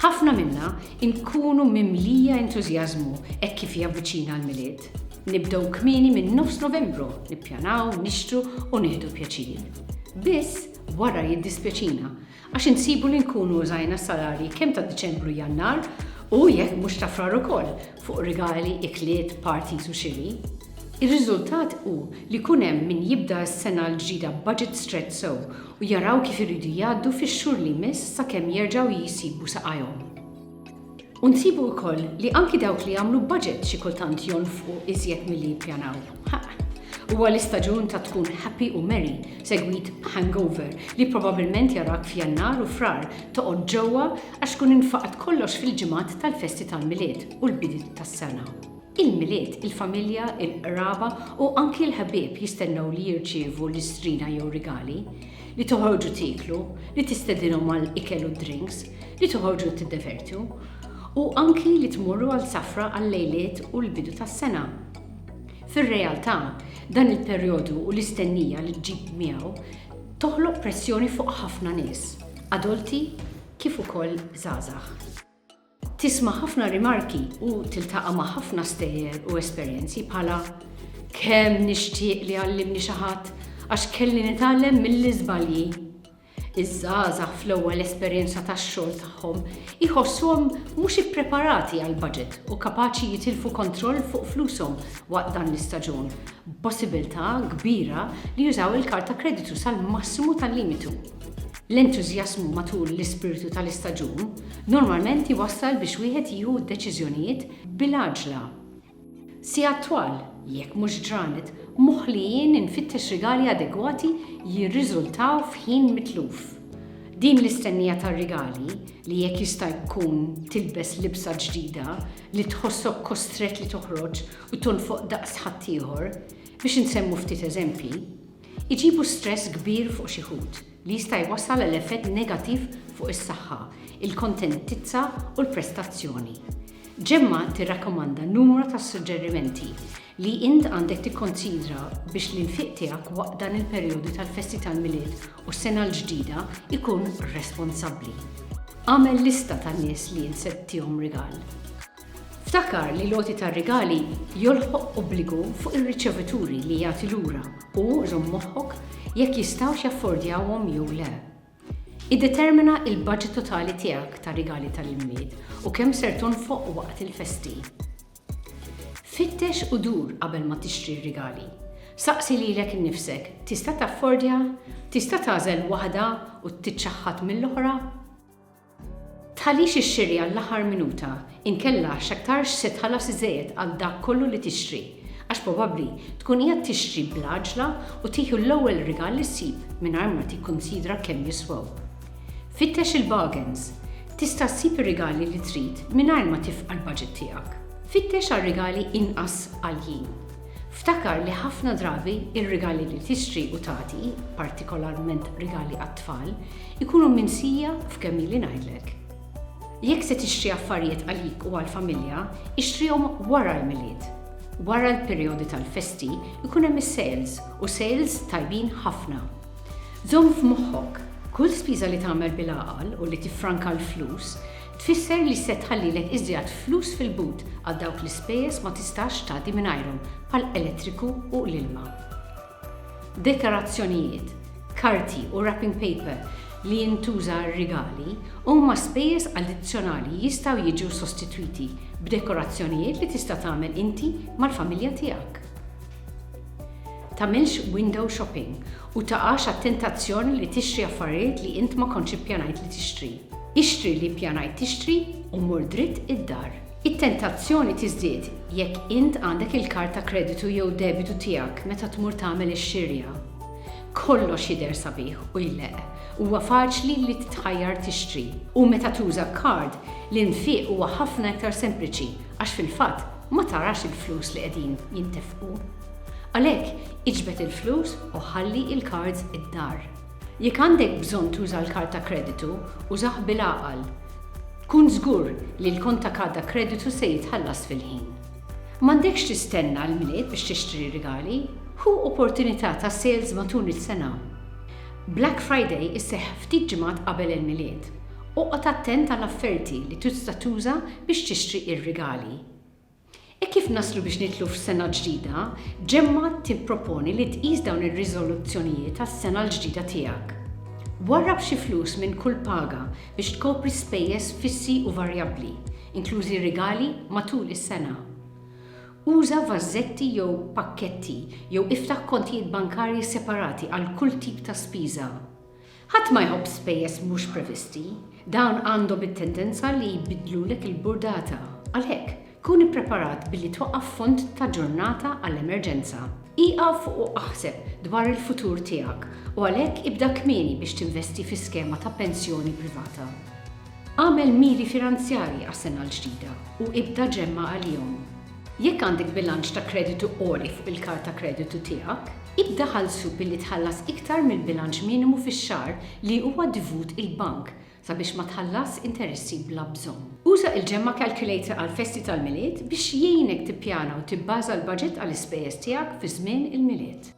Ħafna minna nkunu mimlija entużjażmu hekk kif javviċina l-Milied. Nibdew kmieni minn nofs Novembru, nippjanaw, nixtru u nieħdu pjaċir. Biss, wara jiddispjaċina Għax insibu li nkunu użajna s-salarji kemm ta' Diċembru u Jannar u, jekk mhux ta' Frar ukoll, fuq rigali, ikliet, parties u xiri. Ir-riżultat hu li jkun hemm min jibda s-sena l-ġdida b'budget stretched sew u jaraw kif iridu jgħaddu fix-xhur li jmiss sakemm jerġgħu jsibu saqajhom. U nsibu wkoll li anki dawk li jagħmlu budget xi kultant jonfqu iżjed milli jippjanaw. Huwa l-istaġun ta' tkun happy u merry segwit b'hangover li probabbilment jarak f'Jannar u Frar toqgħod ġewwa għax tkun infaqat kollox fil-ġimgħat tal-festi tal-Milied u l-bidiet tas-sena. Il-Milied, il-familja, il-qraba u anki l-ħbieb jistennew li jirċievu listrina jew rigali. li toħorġu tieklu, li tistedinhom għal ikel u drinks, li toħorġu tiddevertju, u anki li tmorru għal safra għal-lejliet u l-bidu tas-sena. Fir-realtà, dan il-perjodu u l-istennija li ġġib miegħu toħloq pressjoni fuq ħafna nies, adulti kif ukoll żgħażagħ. Tisma' ħafna rimarki u tiltaqa' ma' ħafna stejjer u esperjenzi bħala, Kemm nixtieq li jgħallimni xi ħadd għax kelli nitgħallem mill-iżbalji! Iż-żgħażagħ fl-ewwel esperjenza tax-xogħol tagħhom jħossuhom mhux ippreparati għall-baġit u kapaċi jitilfu kontroll fuq flushom waqt dan l-istaġun, b'possibbiltà kbira li jużaw il-kard ta' kreditu sal-massimu tal-limitu. L-entużjażmu matul l-ispirtu tal-istaġun normalment jwassal biex wieħed jieħu d-deċiżjonijiet bil-għaġla. Sigħat twal, jekk mhux ġranet, moħlijin infittex rigali adegwati jirriżultaw f'ħin mitluf. Din l-istennija tar-rigali, li jekk jista' jkun tilbes libsa ġdida, li tħossok kostrett li toħroġ u tonfoq daqs ħaddieħor, biex insemmu ftit eżempji, Iġibu stress kbir fuq xi ħut, li jista' jwassal għal effett negattiv fuq is-saħħa, il-kontentizza u l-prestazzjoni. Gemma tirrakkomanda numru ta' suġġerimenti li int għandek tikkonsidra biex l-infiq tiegħek waqt dan il-perjodu tal-festi tal-Milied u s-Sena l-Ġdida jkun responsabbli. Agħmel lista tan-nies li int se ttiehom rigal. Ftakar li l-għoti tar-rigali jolħoq obbligu fuq ir-riċevituri li jagħti lura u żomm moħħok jekk jistgħux jaffordjawhom jew le. Iddetermina l-baġit totali tiegħek ta' rigali tal-Imied u kemm ser tonfoq waqt il-festi. Fittex u dur qabel ma tixtri r-rigali. Saqsi lilek innifsek, 'Tista' taffordja? Tista' tagħżel waħda u tiċċaħħad mill-oħra? Tħallix ixxiri għall-aħħar minuta, inkella x'aktarx se tħallas iżejjed għal dak kollu li tixtri, għax probabbli tkun qiegħed tixtri bl-għaġla u tieħu l-ewwel rigal li ssib mingħajr ma tikkunsidra kemm jiswew. Fittex il-bargains. Tista' ssib ir-rigali li trid mingħajr ma tifqa' l-baġit tiegħek. Fittex għal rigali inqas għaljin. Ftakar li ħafna drabi r-rigali li tixtri u tagħti, partikolarment rigali għat-tfal, Ikunu minsija f'kemm ili ngħidlek. Jekk se tixtri affarijiet għalik u għall-familja, ixtrihom wara l-Milied. Wara l-perijodi tal-festi jkun hemm is-sales u sales tajbin ħafna. Żomm f'moħħok, kull spiża li tagħmel bil-għaqal u li tiffranka l-flus, tfisser li se tħallilek iżjad flus fil-but għal dawk l-ispejjeż ma tistax tgħaddi mingħajrhom bħall-elettriku u l-ilma. Dekorazzjonijiet, karti u wrapping paper li jintuża għar-rigali huma spejjeż addizzjonali jistgħu jiġu sostitwiti b'dekorazzjonijiet li tista' tagħmel inti mal-familja tiegħek. Tagħmilx window shopping u taqax għat-tentazzjoni li tixtri affarijiet li int ma kontx ippjanajt li tixtri. Ixtri li ppjanajt tixtri u mur dritt id-dar. It-tentazzjoni tiżdied jekk int għandek il-kard ta' kreditu jew debitu tiegħek meta tmur tagħmel ix-xirja. Kollox jidher sabiħ u jleqq, huwa faċli li titħajjar tixtri, u meta tuża kard, l-infiq huwa ħafna iktar sempliċi għax fil-fatt ma tarax il-flus li qegħdin jintefqu. Għalhekk, iġbed il-flus u ħalli il-kards id-dar. Jekk għandek bżonn tuża l-kard ta' kreditu, użah bil-għaqal. Kun żgur li l-kont ta' kard ta' kreditu se jitħallas fil-ħin. M'għandekx tistenna l-Milied biex tixtri rigali, ħu opportunità ta' sales matul is-sena. Black Friday isseħħ ftit ġimgħat qabel il-Milied. Oqgħod attent għal afferti li tista' tuża biex tixtri r-rigali. Hekk kif naslu biex nidħlu f'sena ġdida, ġemma' tipproponi li tqis dawn ir-riżoluzzjonijiet għas-sena l-ġdida tiegħek. Warrab xi flus minn kull paga biex tkopri spejjeż fissi u varjabbli, inklużi rigali matul is-sena. Uża vażetti jew pakketti jew iftaħ kontijiet bankarji separati għal kull tip ta' spiża. Ħadd ma jħobb spejjeż mhux previsti, dawn għandhom it-tendenza li jbiddlulek il-burdata. Għalhekk, kun ippreparat billi twaqqaf fond ta' ġurnata għall-emerġenza. Ieqaf u aħseb dwar il-futur tiegħek u għalhekk ibda kmieni biex tinvesti fi skema ta' pensjoni privata. Agħmel miri finanzjarji għas-sena l-ġdida u ibda ġemma' għalihom. Jekk għandek bilanċ ta' kreditu għoli fuq il-kard ta' kreditu tiegħek, ibda ħallsu billi tħallas iktar mill-bilanċ minimu fix-xahar li huwa divut il-bank sabiex ma tħallasx interessi bla bżonn. Uża il-Gemma Calculator għall-festi tal-Milied biex jgħinek tippjana u tibbaża l-baġit għall-ispejjeż tiegħek fi żmien il-Milied.